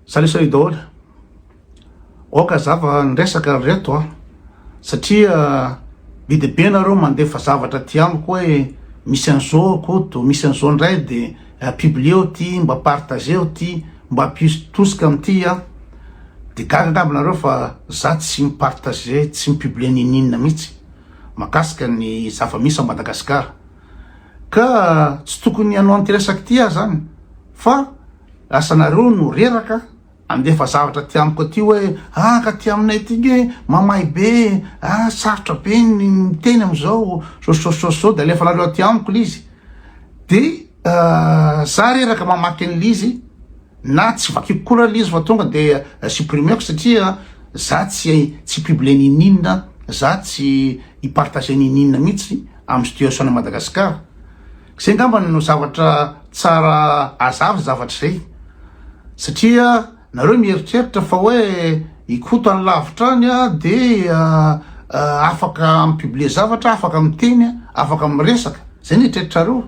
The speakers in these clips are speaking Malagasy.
Salut salut daholo. Oka zava ny resaka reto a. Satria be de be nareo mandefa zavatra aty amiko hoe misy an'zao Koto, misy an'zao ndray de publieo ty, mba partageo ty, mba ampiso tosika amty a. De gaga angamba nareo fa za tsy mi-partage, tsy mi-publie ninininona mitsy makasika ny zava misy a Madagascar. Ka tsy tokony hanao anty resaka ty ah zany fa. Lasa nareo no reraka andefa zavatra aty amiko aty hoe ah ka aty aminay aty nge mamay be e, ah sarotra be ny miteny amizao sososososo de alefanareo aty amiko lizy de za reraka mamaky ny lizy na tsy vakiko koa ra lizy fa tonga de supprimer-ko satria za tsy tsy publier ny ininona za tsy i partager ny ininona mihitsy am situation an'i Madagascar Zay ngambany no zavatra tsara azavy zavatra izay satria nareo mieritreritra fa hoe i Koto any lavitra any a de afaka mi-publier zavatra, afaka miteny, afaka miresaka, zay ny eritreritrareo,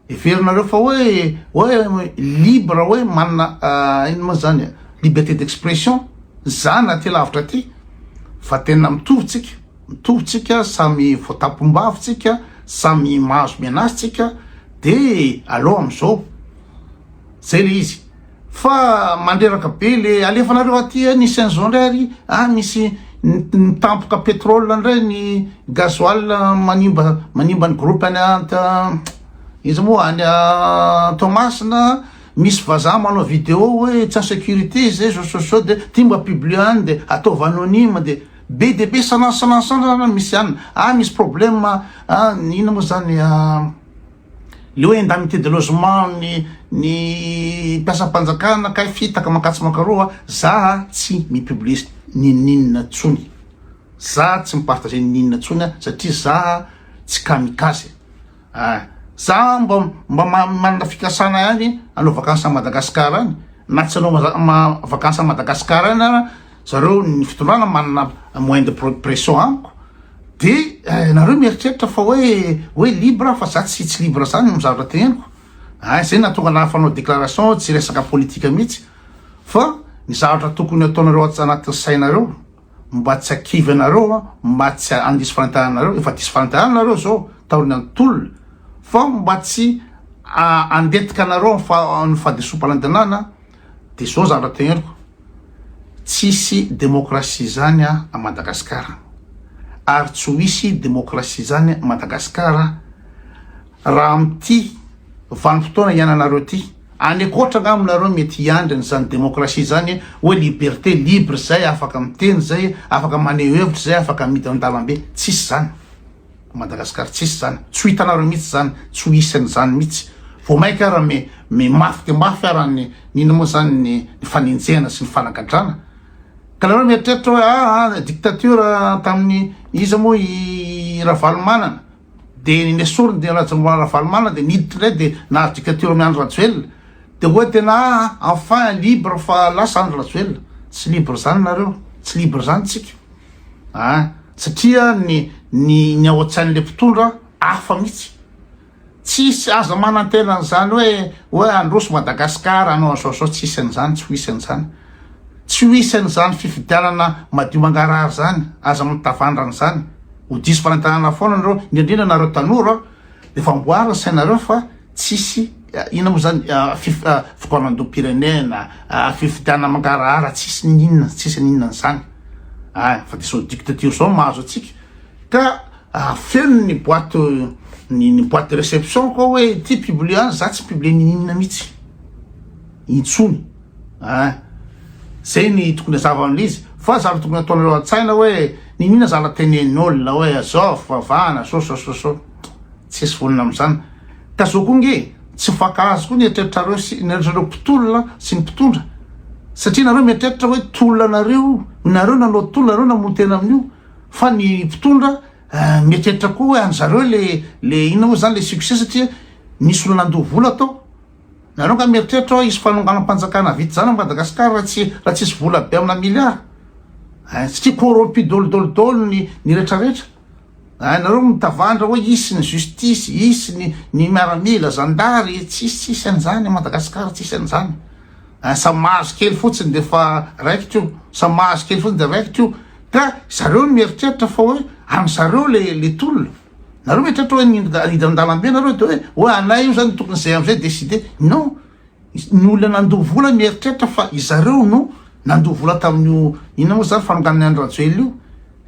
heverinareo fa hoe hoe libre hoe manana inona moa zany a, liberté d'expression za na aty lavitra aty fa tena mitovy tsika. mitovy tsika, samy voatapom-bavy tsika, samy mahazo menace tsika, de aleo amzao, zay le izy fa mandreraka be le alefanareo aty eh, nisy anzao ndray ary ah, misy nitampoka petrole ndray ny gasoil manimba manimba ny groupe any an iza moa any an Toamasina, misy vazaha manao video hoe tsy en sécurité zay zao zao zao de ty mba publier any de ataovy anonyme de. Be dia be sanansanansanana misy an ah misy problème an inona moa zany an le hoe indemnité de logement ny ny mpiasam-panjakana kay fitaka mankatso mankaroa za tsy mi-publier ninoninona tsony za tsy mi-partager ninoninona tsony an satria za tsy kamikaze Ah! Za mba mba manana fikasana ihany hanao vacances à Madagascar any, na tsy hanao vacances à Madagascar any ara, zareo ny fitondrana manana moyen de pression amiko, de nareo mieritreritra fa hoe hoe libre aho fa za tsy tsy libre zany ny zavatra teneniko, ah! zay nahatonga anah fanao déclaration tsy resaka politique mihitsy fa ny zavatra tokony ataonareo anatin'ny sainareo. mba tsy hakivy anareo an, mba tsy handiso fanitaharana anareo, efa diso fanitaharana nareo zao taorian' ny tolona, fa mba tsy handetika anareo ny fahadisoam-panantenana, de zao zavatra teneliko, tsisy demokrasia zany a Madagasikara, ary tsy ho hisy demokrasia zany Madagasikara raha amty vanim-potoana hiainanareo ty. Any ankoatra nga mo nareo mety hiandry an izany demokrasia izany oe liberté libre zay afaka miteny zay afaka maneho hevitra zay afaka midy an dalambe tsisy zany Madagascar tsisy zany tsy ho hitanareo mitsy zany tsy ho hisy an izany mitsy vo maika ara me me mafy de mafy ara ny nino mo zany ny ny fanenjehana sy ny fanagadrana ka nareo mieritreritra oe aa dictature taminy iza mo i ravalomanana dia ny nesoriny dia Rajaomar Ravalomanana dia niditra indray dia nahazo dictature amin'i Andry Rajoelina dia hoe tena ah enfin libre fa lasa Andry Rajoelina tsy libre izany nareo tsy libre izany tsika ah satria ny ny ny ao an-tsain'ilay mpitondra hafa mihitsy tsisy aza manantena an'izany hoe hoe androso Madagasikara anao an'izao zao tsisy an'izany tsy ho isy an'izany Tsy ho isan' izany fifidianana madio mangarahara izany, aza mitavandra an'izany, ho diso fanentanana foana anareo, indrindra nareo tanora, dia efa amboary ny sainareo fa tsisy inona moa zany fikaonandoham-pirenena, fifidianana mangarahara tsisy ny inona tsisy ny inona an'izany an, fa dia izao dictature izao no mahazo antsika, ka feno ny boite ny ny boite de reception koa hoe ity publie any za tsy mi-publie ny inona mihitsy intsony. Hein. Zay ny tokony hazava amle izy. Fa zany tokony ataonareo antsaina hoe niniana zala tenenin'olona hoe azao fivavahana so so so so. Tsisy vonona amzany. Ka zao koa nge tsy mifankahazo koa ny eritreritrareo sy ny eritreritrareo mpitolona sy ny mpitondra. Satria nareo mieritreritra hoe tolona anareo io, nareo nanao tolona, nareo namono tena amin'io. Fa ny mpitondra mieritreritra koa hoe anzareo le le inona moa zany le succès satria nisy olona nandoa vola tao. Nareo nga mieritreritra oa hisy fanonganam panjakana vita zany am Madagascar ra tsy ra tsisy vola be amina milliard eh satria corrompu dolo dolo dolo ny ny retra retra eh nareo mitavandra oa hisy ny justice hisy ny ny miaramila zandary tsisy tsisy anzany am Madagascar tsisy anzany eh sa mahazo kely fotsiny de fa raikitra io sa mahazo kely fotsiny de raikitra io ka zareo no mieritreritra fa oe am zareo le le tolona. Nareo ve tratra hoe hiditra an-dalambe nareo de hoe hoe anay io zany tokony izay am'izay décider. Non, ny olona nandoa vola mieritreritra fa izareo no nandoa vola tamin'io inona moa zany fanonganana an'i Rajoelina io.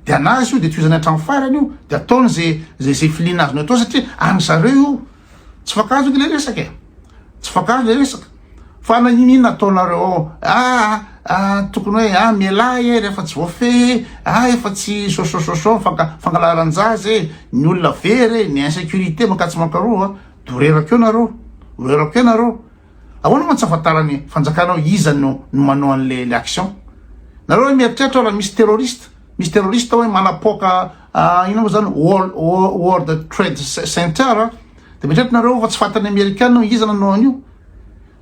De anazy io de tohizany hatramin'ny farany io de ataony zay zay zay filiana azony atao satria an'zareo io. Tsy fankahazo anie le resaka e. Tsy fankahazo le resaka. Fa na ino ino ataonareo ao, ah, ah, tokony hoe ah mialà e rehefa tsy voafehy e, ah efa tsy sosososo fanka, fangalaran-jaza e, ny olona very e, ny insécurité mankatso mankaroa, dorerako eo nareo, dorerako eo nareo. Ahoana moa tsy afantaran'ny fanjakana hoe iza no no manao an'le le action? Nareo hoe mieritreritra raha misy terroriste, misy terroriste hoe manapoaka Ah, inona moa zany World, World Trade Center ah? de mitrety nareo fa tsy fantan'ny Amerikana hoe iza nanao an'io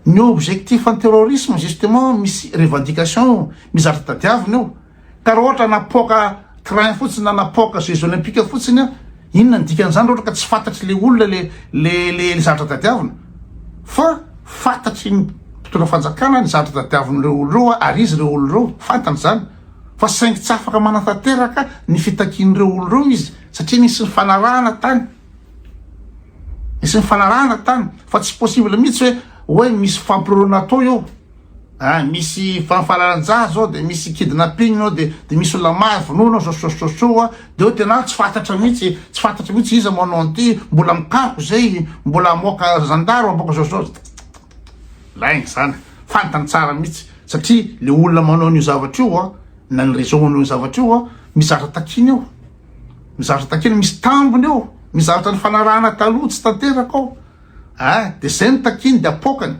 ny objectif ny terrorisme justement misy revendication mizatra tadiavina io ka raha ohatra napoaka train fotsiny na napoaka jeux olympique fotsiny a inona ny dikan'izany ohatra ka tsy fantatry le olona le le le zatra tadiavina fa fantatry ny mpitondra fanjakana ny zatra tadiavin'ireo olona ireo ary izy ireo olona ireo fantany zany fa saingy tsy afaka manatanteraka ny fitakian'ireo olona ireo izy satria nisy nifanarahana tany nisy nifanarahana tany fa tsy possible mihitsy hoe hoe misy fampirorona atao eo ah, misy fanfalaran-jaha zao de misy kidnapping ao de de misy olona mahay vonoana sososososoa de eo tena tsy fantatra mihitsy tsy fantatra mihitsy iza manao an'ity mbola mikako zay mbola amoaka zandaro aboaka zao zao Lainga izany, fantany tsara mihitsy satria le olona manao an'io zavatra io an, na ny réseau manao io zavatra io an, mizatra takiana eo, mizatra takiana, misy tambiny eo, mizatra ny fanarahana taloha tsy tanteraka ao, eh, de zay ny takiany de apoakany,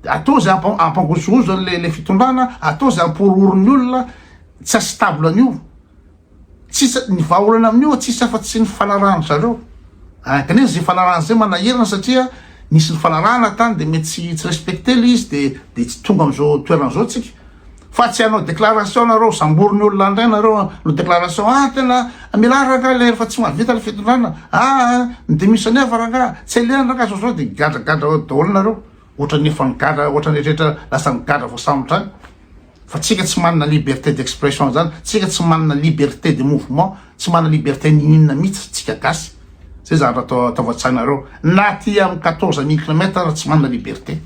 atao zay ampa, ampangozohozo an'le le fitondrana, atao zay ampihorohoro ny olona, tsy asy table an'io. Tsisy, ny vahaolana amin'io tsisy afa tsy ny fanarahan-dry zareo eh, kanefa izay fanarahana izay manahirana satria nisy nifanarahana tany dia mety tsy tsy respecter ilay izy dia dia tsy tonga amin'izao toerana izao tsika fa tsy hanao déclaration nareo sambory ny olona indray nareo hanao déclaration ah tena mialà rangahy ilay efa tsy mahavita ilay fitondrana ah ny démission ny hafa rangahy tsy alehany rangahy zao zao dia gadragadra daholo nareo ohatran'ny efa nigadra ohatran'ny rehetra lasa nigadra voasambotra any Fa tsika tsy manana liberté d'expression zany, tsika tsy manana liberté de mouvement, tsy manana liberté n'ininona mitsy tsika gasy, zay zany raha ataovy an-tsainareo, na aty am quatorze mille kilomètre aza tsy manana liberté,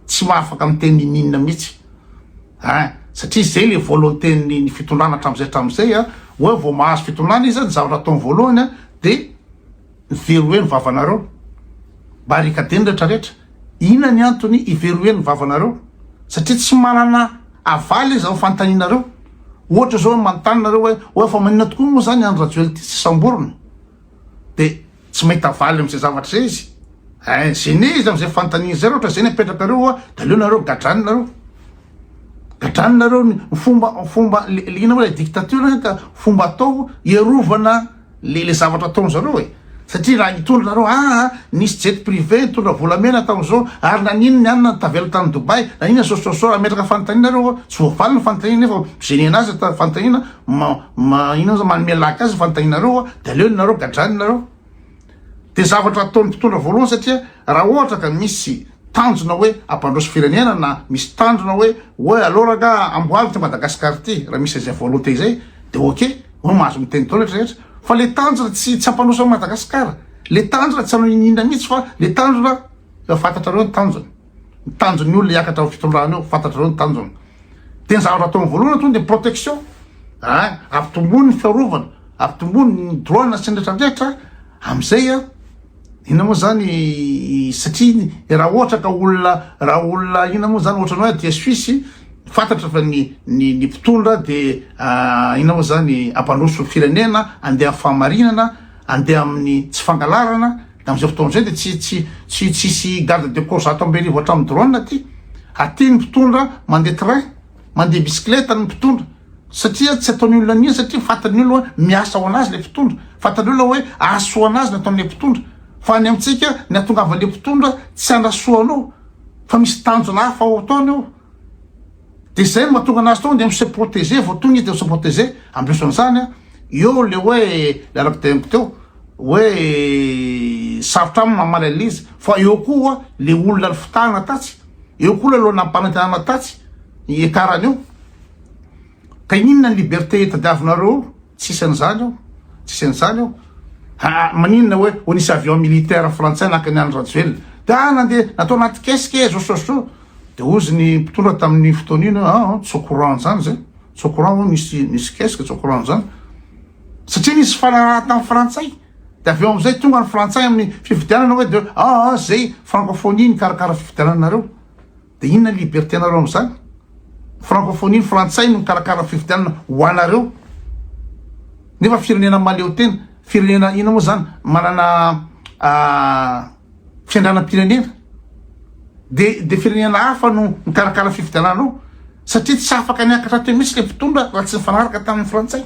tsy mahafaka miteny n'ininona mitsy ein, satria zay le volonté ny ny fitondrana atramizay atramizay an, oe vao mahazo fitondrana izy an, ny zavatra ataony voalohany an de. Veroheno vavanareo, barikadeno rehetra rehetra, inona ny antony hiveroheno vavanareo? Satria tsy manana havaly izy amin'ny fanontanianareo, ohatra zao manontany nareo hoe oe fa maninona tokoa moa zany Andry Rajoelina ity tsy samborina? de tsy mahita havaly amzay zavatra zay izy, hein gene izy amzay fanontaniany zay, ra ohatra zay ny apetrakareo oa de aleo nareo gadrany nareo, gadrany nareo ny fomba fomba le le inona moa le dictature hein ka fomba atao hiarovana le le zavatra ataony zareo e satria raha nitondra nareo aa ah, nisy jet privé nitondra volamena tamin'izao ary nanino ny anona tavela tany Dubai nanina sososo ametraka fanontaniana nareo ah. tsy voavaly ny fanontaniana nefa mizenena azy ta fanontaniana ma ma inona manome laka azy fanontaniana nareo ah. de aleo nareo gadrany nareo Dia zavatra ataon'ny mpitondra voalohany satria raha ohatra ka misy tanjona hoe hampandroso firenena na misy tanjona hoe hoe aleo rangaha amboary ity Madagascar ity raha misy izay volonté izay dia ok hoe mahazo miteny daholo rehetra rehetra fa le tanjona tsy tsy hampandroso an'i Madagascar le tanjona tsy hanao iniinona mihitsy fa le tanjona efa fantatrareo ny tanjona. ny tanjon'ny olona hiakatra ao fitondrana eo fantatrareo ny tanjony de ny zavatra ataony voalohany atoany de protection a ampitomboany ny fiarovana ampitomboany ny droit na sendratradrehitra amizay a ina moa zany satria raha ohatra ka olona raha olona ina moa zany ohatrany hoe aty suisse fantatra fa ny ny ny mpitondra de ina moa zany ampandroso firenena andeha fahamarinana andeha amin'ny tsy fangalarana Amin'izao fotoana izao dia tsy tsy tsy tsy hisy garde de corps zato amby arivo hatramin'ny drone aty. Aty ny mpitondra mandeha train, mandeha bisikileta ny mpitondra satria tsy ataon'ny olona an'iny satria fantan'ny olona hoe miasa ho an'azy ilay mpitondra, fantan'ny olona hoe hahasoa an'azy ny ataon'ilay mpitondra. Fa any amintsika ny hahatongavan'ilay mpitondra tsy hanasoa anao fa misy tanjona hafa ao ataony ao. De zay no mahatonga anazy tonga de mi se proteger vao tonga izy de mi se proteger, ambeso an'izany an, eo le hoe le araka teneniko teo hoe sarotra aminy mamaly an'izy fa eo koa le olona nifitahana tatsy, eo koa le olona nampanantenana tatsy hiakarany eo, ka inona ny liberté tadiavinareo eo, tsisy an'izany eo, tsisy an'izany eo, haa maninona hoe ho nisy avion militaire frantsay naka ny an'i rajoelina, de aa nandeha natao anaty kesika ee zao sy zao sy zao, Dia hozy ny mpitondra tamin'iny fotoana iny hoe ah, tsy au courant an'izany izay, tsy au courant hoe misy misy kesika, tsy au courant an'izany. Satria nisy fifanarahana tamin'ny frantsay. Dia avy eo amin'izay tonga ny frantsay amin'ny fifidianana hoe dia ah, ah izay francophonie nikarakara fifidiananareo. Dia inona ny liberté-nareo amin'izany? Francophonie ny frantsay no nikarakara ny fifidianana ho anareo. Nefa firenena mahaleo tena, firenena inona moa izany manana ah, fiandranam-pirenena dia dia firenena hafa no mikarakara fifidianana ao satria tsy afaka niakatra teo mihitsy le mpitondra raha tsy nifanaraka tamin'ny frantsay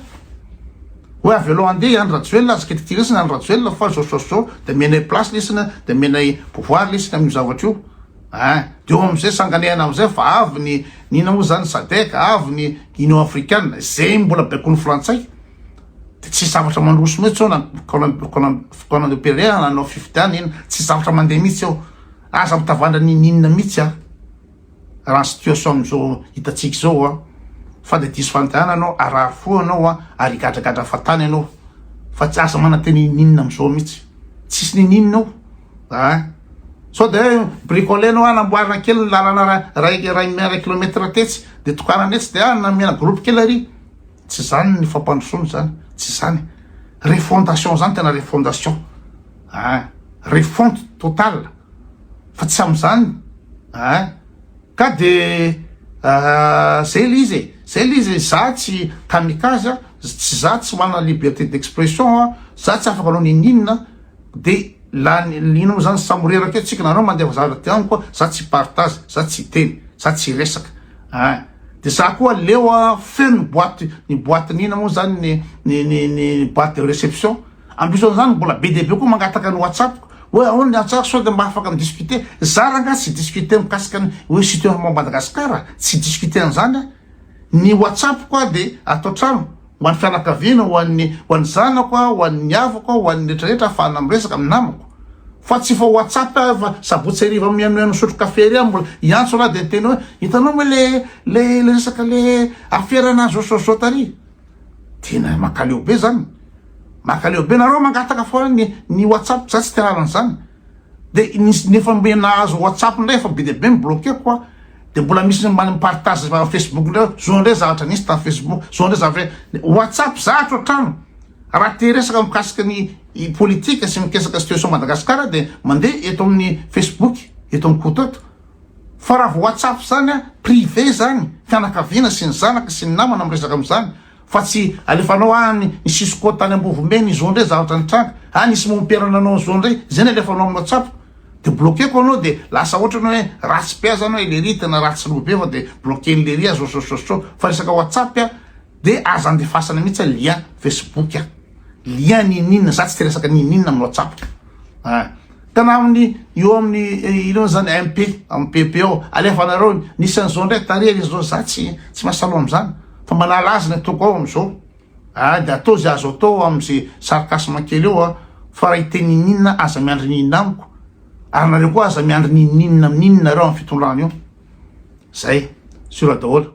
hoe avy aloha andeha i Andry Rajoelina azy kety tirisina Andry Rajoelina fa zao zao zao dia menay place lisina dia menay pouvoir lisina amin'io zavatra io ah dia eo amin'izay sanganehana amin'izay fa avy ny nina moa zany sadec avy ny union africaine zay mbola baikon'ny frantsay Dia tsisy zavatra mandroso mihitsy eo na Conan de Pereira na nanao fifidianana iny, tsisy zavatra mandeha mihitsy eo. Aza mitavandra ninininona mihitsy an! Raha ny situation amin'izao hitantsika izao an! Fa dia diso fandehanana ianao, harary fo ianao an! Ary higadragadra fahatany ianao. Fa tsy aza manantena inininona amin'izao mihitsy. Tsisy ninininona eo an! Sao dia hoe bricoler ianao an! Amboarina kely ny lalana iray kilomètre tetsy, dia tokanana etsy, dia an! Namena groupe kely ary. Tsy zany ny fampandrosoana zany, tsy zany. Refondation zany tena refondation ah refonte totale fa tsy amizany ah ka de ah, zay le izy e, zay le izy e, za tsy kamikaze a, tsy za tsy manana liberté d'expression a, za tsy afaka hanao ninininona de lany ino mo zany samy ho reraka eo tsika, nareo mandefa zavatra de amiko a, za tsy hipartage, za tsy hiteny, za tsy hiresaka. Hein. De za koa leo a feno ny boite ny boite ny ina moa zany ny ny ny ny boite de reception ambiso an'zany mbola be dia be koa mangataka ny whatsapp ko hoe ahoana ny antsara sao de mba afaka mi discuter za rangaha tsy discuter mikasika ny hoe situation Madagascar a tsy discuter an'zany a ny whatsapp ko a de ato an-trano Ho an'ny fianakaviana, ho an'ny, ho an'ny zanako aho, ho an'ny havako aho, ho an'ny rehetra rehetra ahafahana miresaka amin'ny namako. Fa tsy vao whatsapp aho fa sabotsy hariva mihainohaino misotro kafe ery aho mbola hiantso ra dia miteny hoe hitanao moa le, le, le resaka le afera na zao zao zao tary. Tena makaleo be zany. Makaleo be. Nareo mangataka foana ny, ny whatsapp, za tsy te hahalala an'izany. de ny efa mbe nahazo WhatsApp ndray efa be dia be mi-bloquer-ko a, de mbola misy ny mba mi-partage zavatra Facebook ndray hoe zao ndray zavatra nisy tamin'ny Facebook, zao ndray zavatra hoe, WhatsApp zatra hatrany, raha te hiresaka mikasika ny politika sy mikasaka situation Madagascar de mandeha eto amin'ny Facebook eto amin'i Koto eto, fa raha vao WhatsApp zany a, privé zany, fianakaviana sy ny zanaka sy ny namana miresaka amin'izany, Fa tsy alefanao any ny cisco tany ambovombe ny zone zavatra nitranga a nisy mompera nanao ny zone zay ny alefanao aminao tsapo de bloqueko anao de lasa ohatrany hoe ratsy be aza anao ellery tena ratsy loha be fa de bloquer ny lery azy ososososoo fa resaka whatsapp a de aza andefasana mihitsy a lien facebook a lien n'ininona za tsy te resaka n'ininona aminao tsapo a Tamin'ny eo amin'ny ino izany MP, amin'ny PP ao, alefanareo ny nisy an'izao indray tarihany izao, za tsy tsy mahasalama amin'izany fa manala azy ny ataoko ao amin'izao. Ah, dia atao izay azo atao amin'izay sarcasme kely eo ah, fa raha hiteny ininona aza miandry ny inona amiko, ary nareo koa aza miandry ny ininona amin'ny inona nareo amin'ny fitondrana io. Zay, sur daholo.